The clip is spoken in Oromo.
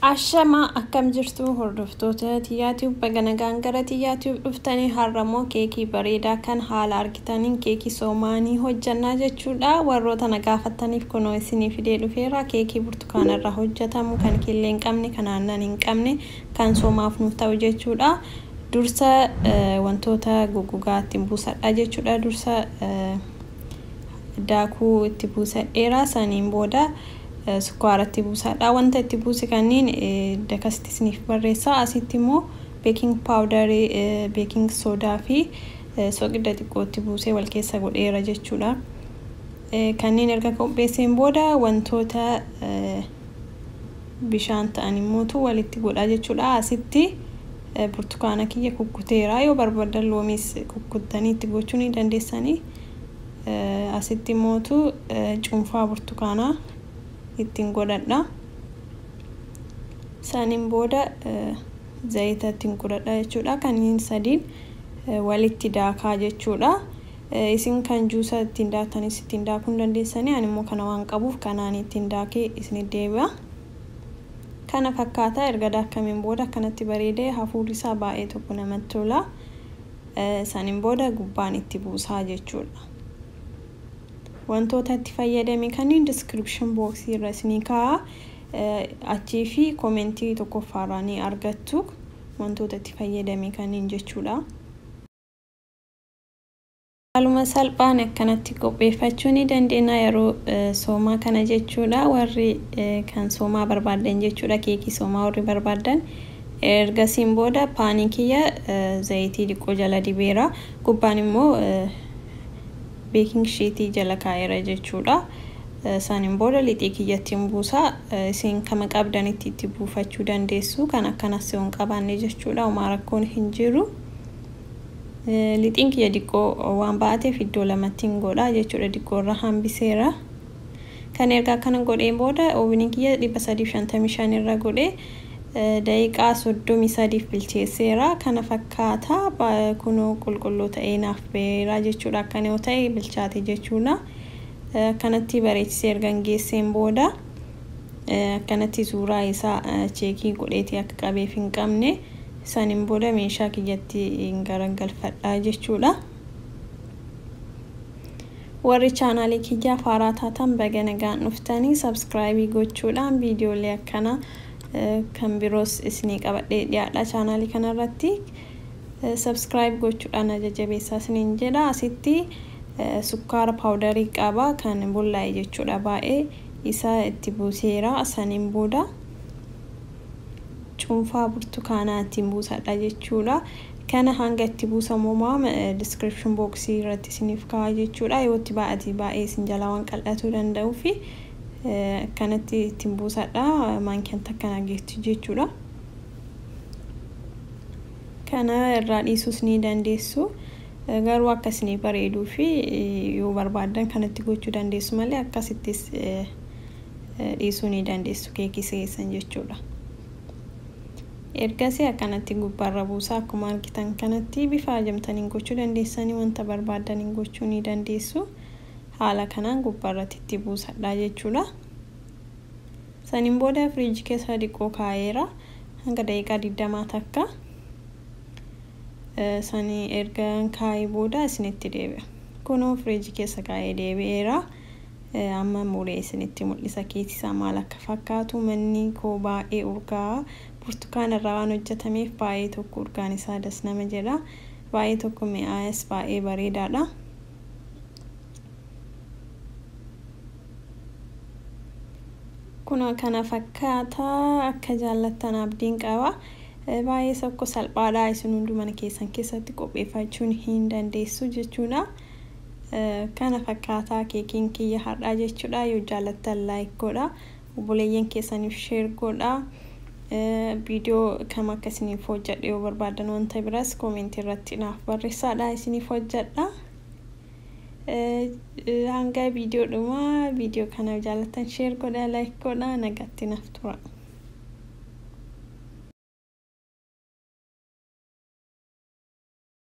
Ashama akkam jirtu hordoftoota Tiyaatiif baga nagaan gara Tiyaatiif dhuftanii har'a immoo keekii bareedaa kan haala argitaniin keekii soomaanii hojjannaa jechuudha. Warroota na gaafattaniif kunoo isinii fidee dhufeera. Keekii burtukaana irraa hojjetamu kan killee hin qabne, kan aannan hin qabne, kan soomaaf nuuf ta'u jechuudha. Dursa wantoota goggogaa ittiin buusadha jechuudha. Dursa daakuu itti buusadheera. Saniin booda sukkaara itti buusadha. Wanta itti buuse kanniin dakasitti isiniif barreessa. Asitti immoo beeking paawudarii, beeking soodaa fi soqidda xiqqoo itti buusee wal keessa godheera jechuudha. Kanneen erga qopheesseen booda wantoota bishaan ta'an immootu walitti godha jechuudha. Asitti burtukaana kiyya kukkuteera. Yoo barbaadan loomiis kukkuttanii itti gochuu ni dandeessanii. Asitti immootu cuunfaa burtukaanaa ittiin godhadha. Saniin booda zayita ittiin godhadha jechuudha. Kanneen sadiin walitti daakaa jechuudha. Isin kan juusa ittiin daaktanis ittiin daakuu hin dandeessanii, ani immoo kana waan qabuuf kanaan ittiin daakee isinitti deebi'a. Kana fakkaata erga daakkameen booda akkanatti bareedee hafuurri isaa baay'ee tokko namatti tola. Saniin booda gubbaan itti buusaa jechuudha. Wantoota itti fayyadame kanneen description box irra isinii kaa'a. Achii fi komentii tokkoffaa irraa ni argattu wantoota itti fayyadame kanneen jechuudha. Haaluma salphaan akkanatti qopheeffachuu ni dandeenya yeroo soomaa kana jechuudha. Warri kan soomaa barbaaddan jechuudha keekii soomaa warri barbaaddan. Ergasiin booda paanii kiyya zayitii diqqoo jala dibeera. Gubbaan immoo beeking shiitii jala kaa'eera jechuudha. Isaaniin booda lixii kiyyatti hin buusa. Isin kama qabdanitti itti buufachuu dandeessu. Kan akkanas yoo hin qabaanne jechuudha. Homaa rakkoon hin jiru. Lixiin kiyya diqqoo waan ba'ateef iddoo lamattiin godha jechuudha diqqoo irra hambiseera. Kan erga akkana godheen booda ooviniin kiyya 355 irra godhe daqiiqaa 33f bilcheesseera. Kana fakkaata kunoo qulqulluu ta'ee naaf ba'eera jechuudha akkana yoo ta'e bilchaate jechuudha. Akkanatti bareechisee ergan geesseen booda akkanatti suuraa isaa cheekii godheeti akka qabeef hin qabne. Saniin booda meeshaa kiyyatti hin garagalfadha jechuudha. Warri chaanaalii kiyyaa faaraa taatan baga nagaan dhuftanii sabskraayibii gochuudhaan viidiyoolee akkana kan biroos isinii qabadhee dhiyaadha chaanaalii kanarratti. Sabskraayib gochuudhaan na jajjabeessaa isiniin jedha. Asitti sukkaara paawudarii qaba kan bullaa'e jechuudha baay'ee isa itti buuseera saniin booda. cuunfaa burtukaanaa ittiin buusadha jechuudha. Kana hanga itti buusamu homaa description box irratti isiniif kaa'aa jechuudha. Yoo itti baay'ate baay'ee isin jalaa waan qal'atuu danda'uuf akkanatti ittiin buusadha. Maankiyaan takka na geetti jechuudha. Kana irraa dhiisuus ni dandeessu. Garuu akka isiniif bareeduu fi yoo barbaaddan kanatti gochuu dandeessu malee akkasittis dhiisuu ni dandeessu keekii keessan jechuudha. Ergasii akkanatti gubbaarra buusaa akkuma argitan kanatti bifa ajamtaniin gochuu dandeessanii wanta barbaaddaniin gochuu ni dandeessu. Haala kanaan gubbaarratti itti buusadhaa jechuudha. Saniin booda firiijii keessa diqqoo kaa'eera hanga daqiiqaa 20 takka sanii erga kaa'ee booda isinitti deebi'a. Kunoo firiijii keessa kaa'ee deebi'eera. Amma muree isinitti mul'isa keessi isaa maal akka fakkaatu. Manni koo baay'ee urgaa'a. Burtukaana irraa waan hojjetameef baay'ee tokko urgaan isaa das nama jedha. Baay'ee tokko mi'aayas baay'ee bareedaadha. Kunoo kana fakkaata akka jaallattan abdiin qaba. Baay'ee tokko salphaadha isin hunduu mana keessan keessatti qopheeffachuun hin dandeessu jechuudha. Kana fakkaataa keekiin kiyya har'aa jechuudha yoo jaalattan like godha obboleeyyan keessaniif share godha viidiyoo kam akka isiniif hojjedhe yoo barbaadan wanta biras koomentii irratti naaf barreessaadha isiniif hojjedha hanga viidiyoo dhumaa viidiyoo kana jaalattan share godha like godha nagatti naaf tura.